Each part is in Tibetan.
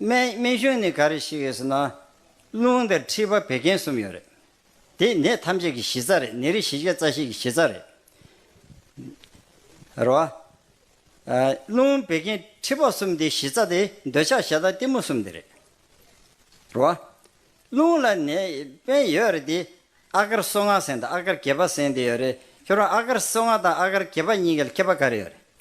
སྨན་སྨན་གཞུང་ནི་ག་རེ་ཞིག་ཡོད་ཟེར་ན། རླུང་དང་མཁྲིས་པ་བད་ཀན་གསུམ་ཡོད་རེད། དེ་ནད་ཐམས་ཅད་ཀྱི་གཞི་རྩ་རེད་ནད་རིགས་བཞི་བརྒྱ་རྩ་བཞི་ཀྱི་གཞི་རྩ་རེད། རེད་བ། རླུང་བད་ཀན་མཁྲིས་པ་གསུམ་དེའི་གཞི་རྩ་དེ་འདོད་ཆགས་ཞེ་སྡང་གཏི་མུག་གསུམ་དེ་རེད། རེད་བ། རླུང་ལ་ནད་སྨན་ཡོད་རེད་དེ། ཨ་ཀར་སོ་ལྔ་ཟེར་དང་ཨ་ཀར་བརྒྱད་པ་ཟེར་དེ་ཡོད་རེད། ཁྱོད་རང་ཨ་ཀར་སོ་ལྔ་དང་ཨ་ཀར་བརྒྱད་པ་གཉིས་ཀའི་ལ་མཁས་པ་ག་རེ་ཡོད་རེད།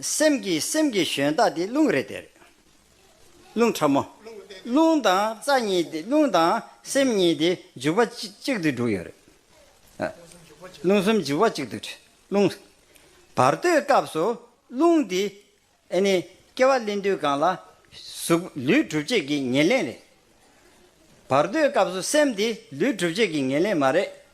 སེམས་ཀྱི་སེམས་ཀྱི་ཞོན་རྟགས་དེ་རླུང་རེད་དེ་རེད། རླུང་ཕྲ་མོ། རླུང་དང་རྩ་གཉིས་དེ་རླུང་དང་སེམས་གཉིས་དེ་འཇུག་པ་གཅིག་ཏུ་འགྲོ་ཡོད་རེད། རླུང་གསུམ་འཇུག་པ་གཅིག་ཏུ་འགྲོ། རླུང། བར་དོའི་སྐབས་སུ་རླུང་དེ་ཨེ་ནི་སྐྱེ་བ་གླིང་དུས་གང་ལ། གཟུགས་ལུས་གྲུབ་བྱེད་ཀྱི་ཉེར་ལེན་རེད། བར་དོའི་སྐབས་སུ་སེམས་དེ་ལུས་གྲུབ་བྱེད་ཀྱི་ཉེར་ལེན་མ་རེད།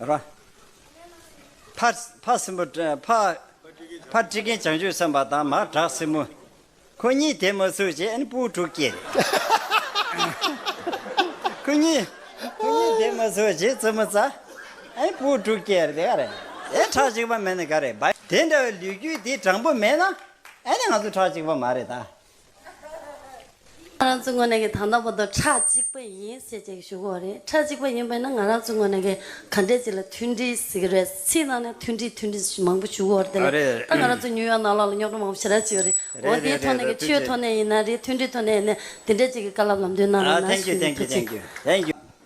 ར། ཕ། ཕ་སྲིན་པོ། ཕ། ཕ་ཁྲི་རྒན་བྱང་ཆུབ་སེམས་དཔའ་དང་མ་བྲག་སྲིན་མོ། ཁོ་གཉིས་དེ་མ་ཟུག་བྱས་ཨེ་པུའུ་དྲུག་སྐྱེས། ཁོ་གཉིས། ཁོ་གཉིས་དེ་མ་ཟུག་བྱས་རྩི་མོ་ཙཱ། ཨེ་པུའུ་དྲུག་སྐྱེས་རེད་ག་རེད། ཨེ་ཁྲག་གཅིག་པ་མེད་ན་ག་རེད། དེ་འདྲ་བའི་ལུས་རྒྱུད་དེ་དྲང་པོ་མེད་ན་ཨེ་ནས་ང་ཚོ་ཁྲག་གཅིག་པ་མ་རེད་ད། ང་རང་ཚོའི་ངོས་ནས་ཀྱི་དང་ཐོག་པོ་ཏོ་ཁྲག་གཅིག་པ་ཡིན་ཞེས་བྱས་ཀྱི་ཞུ་གོ་རེད་ཁྲག་གཅིག་པ་ཡིན་པས་ན་ང་རང་ཚོའི་ངོས་ནས་ཀྱི་ག་འདྲས་ཅིག་ལ་མཐུན་སྒྲིལ་ཟེར་གྱི་རེད་ཚིག་ནང་ནས་མཐུན་སྒྲིལ་མཐུན་སྒྲིལ་མང་པོ་ཞུ་གོ་རེད་དེ་ལས་ད་ང་རང་ཚོ་ཉུ་ཡོག་ནང་ལོག་ལ་རྙོག་དྲ་མང་པོ་ཞེ་དྲག་བྱས་ཡོད་རེད་འོ་དེའི་ཐོག་ནས་ཀྱི་ཆོས་ཐོག་ནས་ཡིན་ན་རེད་མཐུན་སྒྲིལ་ཐོག་ནས་ཡིན་ན་དེ་འདྲས་ཅིག་གི་བཀའ་སླབ་ལམ་སྟོན་གནང་རོགས་གནང་ཞུ་ཡི་ཐུགས་རྗེ།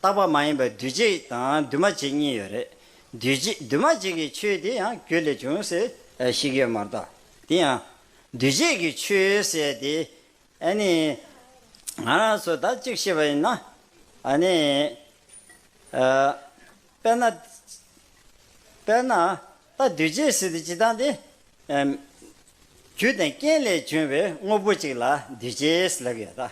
རྟག་པ་མ་ཡིན་པ་འདུས་བྱས་དང་འདུས་མ་བྱས་གཉིས་ཡོད་རེད། འདུས་བྱས་འདུས་མ་བྱས་ཀྱི་ཆོས་དེ་ཡང་རྒྱུ་ལས་བྱུང་ཟེར་ཞིག་ཡོད་མ་གཏོགས་དེ་ཡང། འདུས་བྱས་ཀྱི་ཆོས་ཟེར་དེ། ཨ་ནི། ང་རང་ཚོ་ད་གཅིག་ཤེས་པ་ཡིན་ན། ཨ་ནི། དཔེར་ན། དཔེར་ན། ད་འདུས་བྱས་ཟེར་དེ་ཇི་ལྟར་འདི། རྒྱུ་དང་རྐྱེན་ལས་བྱུང་བའི་དངོས་པོ་ཅིག་ལ་འདུས་བྱས་ཟེར་ལབ་ཡོད་ད།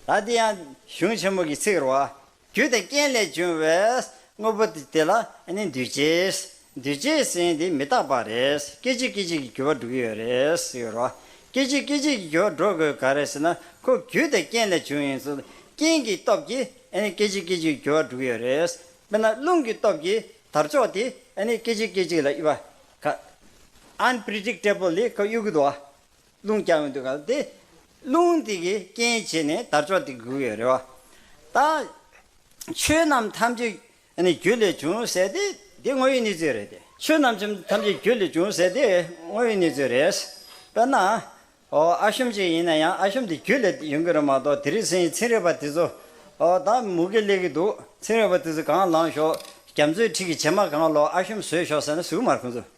ལ་འདི་ཡང་གཞུང་ཆེན་མོ་གི་ཚིག་རོ། རྒྱུ་དང་རྐྱེན་ལས་བྱུང་བས། དངོས་པོ་དེ་ལ་ནི་འདུས་བྱས། འདུས་བྱས་ཟིན་དེ་མི་རྟག་པ་རེད། སྐད་ཅིག་སྐད་ཅིག་གིས་འགྱུར་བ་འགྲོ་གི་ཡོད་རེད་ཟེར་རོ། སྐད་ཅིག་སྐད་ཅིག་གིས་འགྱུར་བ་འགྲོ་དགོས་ག་རེ་ཟེར་ན། ཁོ་རྒྱུ་དང་རྐྱེན་ལས་བྱུང་ཡིན་ཚུལ། རྐྱེན་གྱི་སྟོབས་ཀྱིས་སྐད་ཅིག་སྐད་ཅིག་གིས་འགྱུར་བ་འགྲོ་གི་ཡོད་རེད། དཔེར་ན་རླུང་གི་སྟོབས་ཀྱིས་དར་ལྕོག་དེ་སྐད་ཅིག་སྐད་ཅིག་ལ་གཡུག་པ། Unpredictably གཡུག་གི་འདུག་རླུང་རྐྱང་བའི་འདུ་ཁང་སྟེ། རླུང་དེ་གིས་རྐྱེན་བྱས་ནས་དར་ལྕོག་དེ་འགུལ་བའི་རེ་བ་དང། ཆོས་རྣམས་ཐམས་ཅད་ནི་རྒྱུ་ལས་བྱུང་ཟེར་ཏེ་འདི་དངོས་ཡོད་གནས་ཚུལ་རེད་དེ། ཆོས་རྣམས་ཐམས་ཅད་རྒྱུ་ལས་བྱུང་ཟེར་དེ་དངོས་ཡོད་གནས་ཚུལ་རེད། དཔེར་ན། ཨ་ཤོམ་ཅིག་ཡིན་ན་ཡང་ཨ་ཤོམ་དེ་རྒྱུ་ལས་ཡོང་གི་རེད་མ་གཏོགས་དེ་རིང་སེང་ཚིང་རེད་པ་དེ་ཚོ་དང་མུ་གེ་སླེབས་ཀྱི་འདུག་ཚིང་རེད་པ་དེ་ཚོ་གང་ལངས་ཞོག་རྒྱ་མཚོའི་འཁྲིས་ཀྱི་བྱེ་མ་གང་ལོག་ཨ་ཤོམ་ཟོས་ཞོག་ཟེར་ན་ཟུག་མར་ཁོང་ཚོས།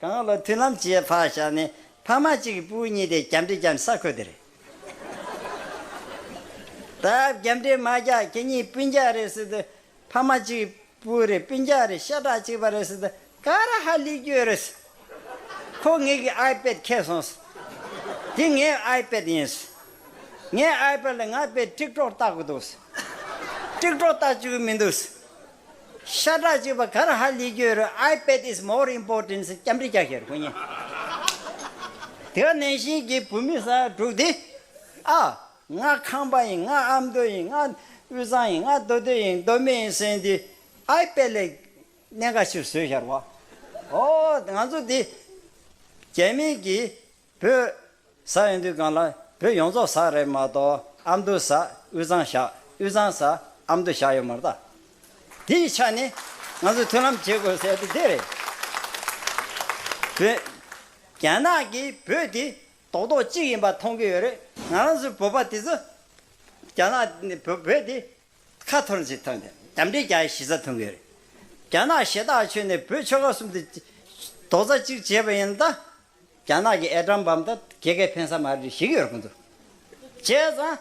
གང་ལ་མཐུན་ལམ་བྱེད་ཕ་ཞག་ནི་ཕ་མ་གཅིག་གི་པུའུ་གཉིས་ཏེ་རྒྱབ་འདྲེ་རྒྱམ་ས་ཁོད་དེ་རེད། ད་རྒྱབ་འདྲེ་མ་རྒྱག་ཁྱེད་གཉིས་སྤུན་རྒྱག་རེད་ཟེར་དུས་ཕ་མ་གཅིག་གི་པུའུ་རེད་སྤུན་རྒྱག་རེད་ཤ་ཁྲག་གཅིག་པ་རེད་ཟེར་དུས་ཀ་ར་ཧ་ལི་རྒྱུ་རེད། ཁོ་ངེད་ཀྱི་ཨའི་པད་ཁྱེར་སོང་ཟེར། འདི་ངའི་ཨའི་པད་ཡིན་ཟེར། ངའི་ཨའི་པད་ལ་ང་པད་ཀྲིག་ཀྲོག་བཏགས་དགོས་འདུག་ཟེར། ཀྲིག་ཀྲོག་བཏགས་བཅུག་གི་མི་འདུག་ཟེར། ཤ་ཁྲག་གཅིག་པ་གར་ཧ་ལི་རྒྱུ་རུ I pet is more important སི་སྐྱབས་འབྲི་རྒྱག་ཤེས་རུ་ཁོ་ཉེ་དེ་ག་ནན་ཤིན་གྱི་བུ་མི་ས་དྲུག་དེ་ཨ་ང་ཁང་པ་ཡིན་ང་ཨ་མདོ་ཡིན་ང་དབུས་གཙང་ཡིན་ང་མདོ་སྟོད་ཡིན་མདོ་སྨད་ཡིན་སེན་དེ I pet ལས་གནས་འགའ་ཕྱིར་བཟོས་ཤར་བ་ཨོ་ང་ཚོ་དེ་རྒྱ་མིན་གྱི་བོད། ས་ཨེ་འདུས་སྒང་ལ་བོད་ཡོངས་རྫོགས་ས་རེད་མ་གཏོགས་ཨ་མདོའི་ས་དབུས་གཙང་ཤག་དབུས་གཙང་ས་ཨ་མདོ་ཤག་ཡོད་མ་རེད། དེ་ཡི་ཆ་ནས་ང་ཚོས་མཐུན་ལམ་བྱེད་དགོས་ཟེར་དེ་དེ་རེད། བོད། རྒྱ་ནག་གིས་བོད་དེ་རྡོག་རྡོག་གཅིག་ཡིན་པ་མཐོང་གི་ཡོད་རེད་ང་རང་ཚོའི་བོད་པ་དེ་ཚོ། རྒྱ་ནག་བོད་བོད་དེ་ཁ་ཐོར་ནས་ཅིག་ཐོན་ཏེ་རྒྱབ་འདྲེ་རྒྱ་ཡི་གཞི་རྩ་ཐོན་གི་ཡོད་རེད། རྒྱ་ནག་ཞེ་ཐག་ཆོད་ནས་བོད་ཆོལ་ཁ་གསུམ་དེ་རྡོག་རྩ་གཅིག་བྱས་པ་ཡིན་ན་ད་རྒྱ་ནག་གི་ཨེ་ཀྲམ་བམ་ད་རྒྱལ་ཁས་ཕན་ས་མ་རེད་ཞིག་ཡོད་རེད་ཀུན་ཏུ། བྱས་ཙང།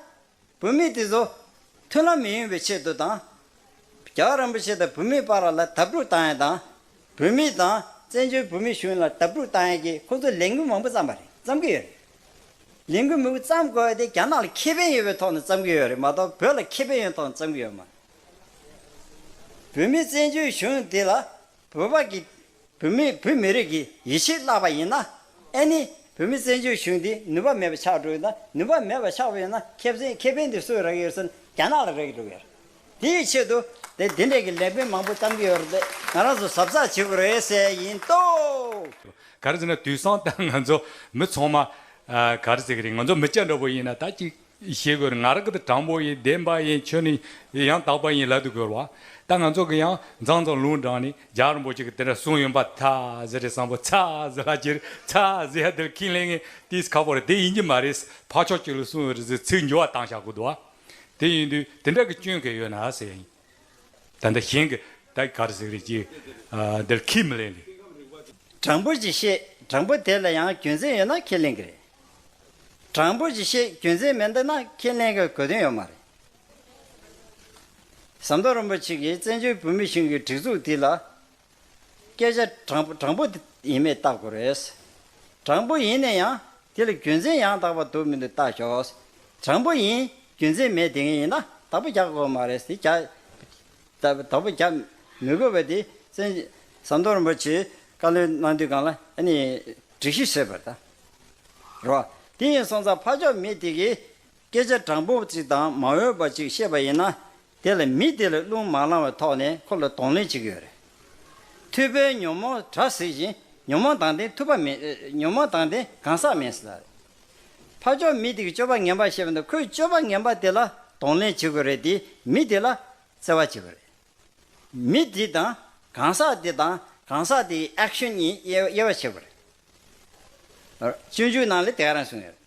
བུད་མེད་དེ་ཚོ། མཐུན་ལམ་མི་ཡོང་བའི་ཆེད་དུ་དང། རྒྱ་གར་རིན་པོ་ཆེ་དང་བུད་མེད་པ་ར་ལ་དབབ་སྒྲུག་བཏང་ཡན་དང། བུད་མེད་དང་བཙན་བྱོལ་བུད་མེད་གཞུང་ལ་དབབ་སྒྲུག་བཏང་ཡན་གྱིས་ཁོ་ཚོ་ལས་འགུལ་མང་པོ་བརྩམས་པ་རེད་བརྩམས་ཀྱི་ཡོད་རེད། ལས་འགུལ་མི་བུ་བརྩམས་དགོས་པ་དེ་རྒྱ་ནག་ལ་ཁེ་ཕན་ཡོད་པའི་ཐོག་ནས་བརྩམས་ཀྱི་ཡོད་རེད་མ་གཏོགས་བོད་ལ་ཁེ་ཕན་ཡོད་ཐོག་ནས་བརྩམས་ཀྱི་ཡོད་མ་རེད། བུད་མེད་བཙན་བྱོལ་གཞུང་དེ་ལ་བོད་པ་གི། བོད་མི་བོད་མི་རིགས་ཀྱི་ཡིད་ཆེས་བརླག་པ་ཡིན་ན། ཨེ་ནི། བོད་མི་བཙན་བྱོལ་གཞུང་འདི་ནུས་པ་མེད་པ་ཆགས་འགྲོ་ཡི་ན་ནུས་པ་མེད་པ་ཆགས་པ་ཡིན་ན་ཁེ་བཙན་ཁེ་ཕན་དེ་སུས་རག་ཡོད་ཟེར་ན་རྒྱ་ནག་ལ་རེག་འགྲོ་གི་ཡོད་རེད། དེ་ཡི་ཆེད་དུ་དེ་འདི་འདྲས་ཀྱི་ལས་དཔོན་མང་པོ་གཏམ་གྱི་ཡོད་རེད་དེ་ང་རང་ཚོ་ཟབ་ཚགས་བྱེད་དགོས་རེད་གསལ་ཡིན་ཏོ། ག་རེ་ཟེར་ན་དུས་སང་ད་ང་ཚོ་མི་ཚང་མ། ག་རེ་ཟེར་གི་རེད་ང་ཚོ་མི་སྐྱ་འདྲ་བོ་ཡིན་ན་ད་ཅིག། ཞེས་བསྒོ་ནས་ང་ར་ཀི་ཏི་དྲང་པོ་ཡི་བདེན་པ་ཡི་ཆོས་ནི་ཡང་དག་པ་ཡིན་ལ་དུ་གོལ་བ། ད་ང་ཚོ་གི་ཡང་མཛངས་དང་ལུང་དྲངས་ནས་ཇག་རིན་པོ་ཆེ་གི་དེ་འདྲ་གསུངས་ཡོད་པ་ཐ་ཟི་རེད་བསམ་པོ་ཚ་ཟི་ལ་ཅི་རེད་ཚ་ཟི་ཧ་དེར་ཁིན་ལེ་ངེ་ཏིས་ཁ་པོ་རེད་དེ་ཡིན་གྱི་མ་རེད་ས་ཕག་ཆོག་ཅིག་ལ་གསུངས་ཡོད་རེད་ཟེར་ཚིག་འགྱུ་བ་བཏང་བཞག་གོ་དུ་བ་དེ་ཡིན་དུས་དེ་འདྲ་གི་སྐྱོན་གས་ཡོད་ན་ཟེར་ཡ་ཡིན། ད་ལྟ་གཞན་གྱི་ད་གི་གར་ཟིག་རེད་ཅེས་འདིར་ཁས་མི་ལེན་ལེ། དྲང་པོ་ཅིག་བཤད་དྲང་པོ་དེ་ལ་ཡང་རྒྱུ་མཚན་ཡོད་ན་ཁས་ལེན་གྱི་རེད། དྲང་པོ་ཅིག་བཤད་རྒྱུ་མཚན་མེད་འདུག་ན་ཁས་ལེན་གྱི་གོ་དོན་ཡོད་མ་རེད། ཟམ་གདོང་རིན་པོ་ཆེ་གིས་བཙན་བྱོལ་བོད་མི་གཞུང་གི་སྒྲིག་འཛུགས་འདི་ལ་སྐད་ཆ་དྲང་པོ་ཡིན་མེད་བལྟ་དགོས་རེད། དྲང་པོ་ཡིན་ནས་ཡང་དེ་ལ་རྒྱུ་མཚན་ཡང་དག་པ་འདུག་མི་འདུག་བལྟ་ཞོག། དྲང་པོ་ཡིན་རྒྱུ་མཚན་མེད་དེ་ངན་ཡིན་ན་དག་པོ་རྒྱག་དགོས་མ་རེད། དག་པོ་རྒྱག་མི་དགོས་པ་དེ་བཙན་བྱོལ་ཟམ་གདོང་རིན་པོ་ཆེས་བཀའ་བློན་གནང་དུས་གང་ལ་ནི་སྒྲིག་གཞི་བྱེད་པར་བལྟ་རོགས། དེ་ཡིན་སོང་ཙང་ཕ་ཕྱོགས་མི་དེ་གས་སྐད་ཆ་དྲང་པོ་ཅིག་དང་མ་འོས་པ་ཅིག་བཤད་པ་ཡིན་ན་དེ་ལ་མི་དེ་ལ་རླུང་མ་བླངས་བའི་ཐོག་ནས་ཁོ་ལ་གདོང་ལེན་བྱེད་ཀྱི་ཡོད་རེད། མཐུད་པའི་ཉོན་མོངས་དྲག་ཟིག་བཞིན་ཉོན་མོངས་དང་ལྡན་མཐུད་པ་མེད། ཉོན་མོངས་དང་ལྡན་གང་ཟག་མེད་ཟེར་ལ་རེད། ཕ་ཅོག་མི་དེ་གི་སྤྱོད་པ་ངན་པ་ཤེས་པ་དང་ཁོས་སྤྱོད་པ་ངན་པ་དེ་ལ་གདོང་ལེན་བྱེད་དགོས་རེད་དེ་མི་དེ་ལ་བརྩེ་བ་བྱེད་དགོས་རེད། མི་དེ་དང་གང་ཟག་དེ་དང་གང་ཟག་དེ་ཡི action གཉིས་དབྱེ་བ་ཕྱེ་དགོས་རེད། སྤྱོད་འཇུག་ནང་ལས་དེ་ག་རང་གསུངས་ཡོད་རེད།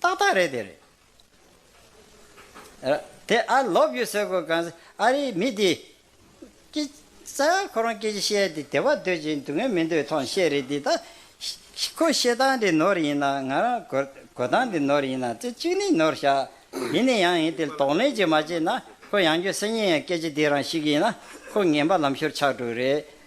ཏག་ཏག་རེད་དེ་རེད། དེ་ཨ་ལོག་རྒྱུ་ཟེར་དགོས་གང་ཟེར་ཨ་རིའི་མི་དེ། སྐྱིད། ས་ཁོ་རང་སྐད་ཅིག་བཤད་དེ་དེ་བ་འདོད་ཅིང་སྡུག་བསྔལ་མི་འདོད་ཐོང་བཤད་རེད་དེ་ད། ཁོ་བཤད་སྟངས་དེ་ནོར་ཡིན་ན་ང་རང་གོ་གོ་སྟངས་དེ་ནོར་ཡིན་ན་ཚེ་གཅིག་ནི་ནོར་བཞག་ཡིན་ནི་ཡང་ཡིན་དེ་དོགས་གླེང་ཅིག་མ་བྱེད་ན་ཁོ་ཡང་སྐྱོ་སེ་ཉེ་ཡང་སྐད་ཆ་དེ་རང་ཞིག་ཡིན་ན་ཁོ་ངན་པ་ལམ་ཤོར་ཆགས་འགྲོ་རེད་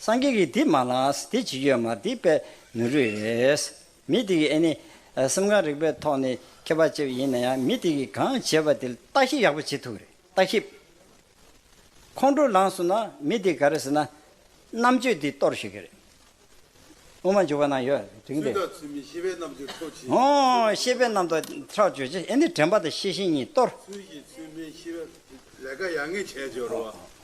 སངས་རྒྱས་ཀྱིས་དེ་མ་ལགས་དེ་ཇི་ཡོད་མ་དེ་པས་མི་རུས་རེད། མི་དེ་ཡིས་ནི། སེམས་ཁམས་རིག་པའི་ཐོག་ནས་མཁས་པ་ཅིག་ཡིན་ན་ཡང་མི་དེ་ཡིས་གང་བྱས་པ་དེ་ལ་བརྟག་ཞིབ་ཡག་པོ་བྱེད་ཐུབ་རེད་བརྟག་ཞིབ། ཁོང་ཁྲོ་ལངས་སོང་ན་མི་དེ་ག་རེ་ཟེར་ན། རྣམ་དཔྱོད་དེ་གཏོར་ཤེས་ཀྱི་རེད། དབུ་མ་འཇུག་པ་ན་ཡོད་དེ་རིང་འདི། ཚུལ་དང་ཚུལ་མིན་ཤེས་པའི་རྣམ་དཔྱོད་ཁྲོ་ཆེ། ཧོ། ཤེས་པའི་རྣམ་དཔྱོད་ཁྲོ་ཆེ་ཡིན་ནི་དྲན་པ་དང་ཤེས་བཞིན་གཉིས་གཏོར། ཚུལ་གྱིས་ཚུལ་མིན་ཤེས་པའི། ལས་ཀ་ཡག་ངེས་བྱས་བྱོས་རོགས།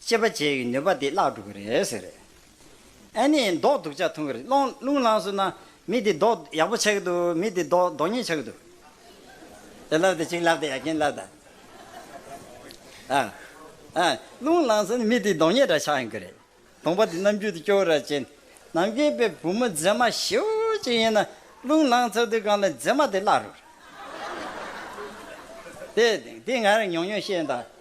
ཅེས་པ་བཅས་ཀྱི་ནུས་པ་དེ་བརླག་འགྲོ་གི་རེད་ཟེར། ཨེ་ནི་མདོག་སྡུག་ཆ་མཐོང་གི་རེད། སློང་རླུང་བླངས་སོང་ན། མི་དེ་མདོག་ཡག་པོ་ཆགས་ཀྱི་འདུག་མི་དེ་མདོག་མདོག་ཉེས་ཆགས་ཀྱི་འདུག། དེ་ལབ་དེ་གཅིག་ལབ་དེ་ཡ་གྱེན་ལབ་དང། ཨ། ཨ། རླུང་བླངས་སོང་ན་མི་དེ་མདོག་ཉེས་འདྲ་ཆགས་ཡོང་གི་རེད། དང་པོ་དེ་རྣམ་འགྱུར་དུ་སྐྱོ་ར་ཅན། ནམ་རྒྱུན་པའི་བུ་མོ་མཛེས་མ་ཞེའུ་ཅིག་ཡིན་ན། རླུང་བླངས་ཚར་དུས་གང་ལ་མཛེས་མ་དེ་བརླག་འགྲོ་གི་རེད། དེ། དེ་ང་རང་ཉུང་ཉུང་བཤད་ཡིན་ད།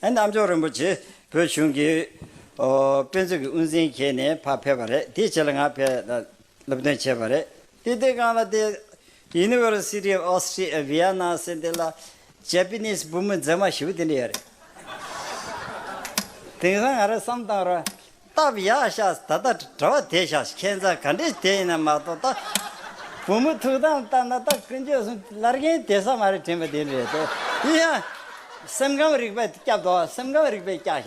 གནམ་མཆོག་རིན་པོ་ཆེ་བོད་གཞུང་གི་དཔེ་མཛོད་ཀྱི་དབུ་འཛིན་ཁྱེད་ནས་ཕར་ཕེབས་པ་རེད་དེའི་ཆེད་ལ་ང་ཕེབས་སློབ་སྟོན་བྱས་པ་རེད་དེ་དེ་གང་ལ་དེ། University of Austria Vienna ཟེར་དེ་ལ Japanese བུ་མོ་མཛེས་མ་ཞིག་དེ་འདྲ་ཡོད་རེད། དེང་སང་ང་རང་བསམ་བཏང་ར། སྟབས་ཡག་ཤགས་ད་ལྟ་གྲྭ་བ་དེ་ཤགས་ཁྱེད་ཚང་ག་འདྲས་དེ་ཡིན་ན་མ་གཏོགས་ད་བུ་མོ་ཐུགས་དམ་བཏབ་ན་ད་ཀུན་སྤྱོད་སུ་ལར་རྒན་དེ་ས་མ་རེད་དྲན་པ་དེ་རེད་དོ་དེ་ཡང་སེམས་ཁམས་རིག་པ་སྐྱབས་དོ་སེམས་ཁམས་རིག་པའི་སྐྱག་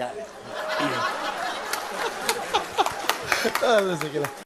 ཤགས།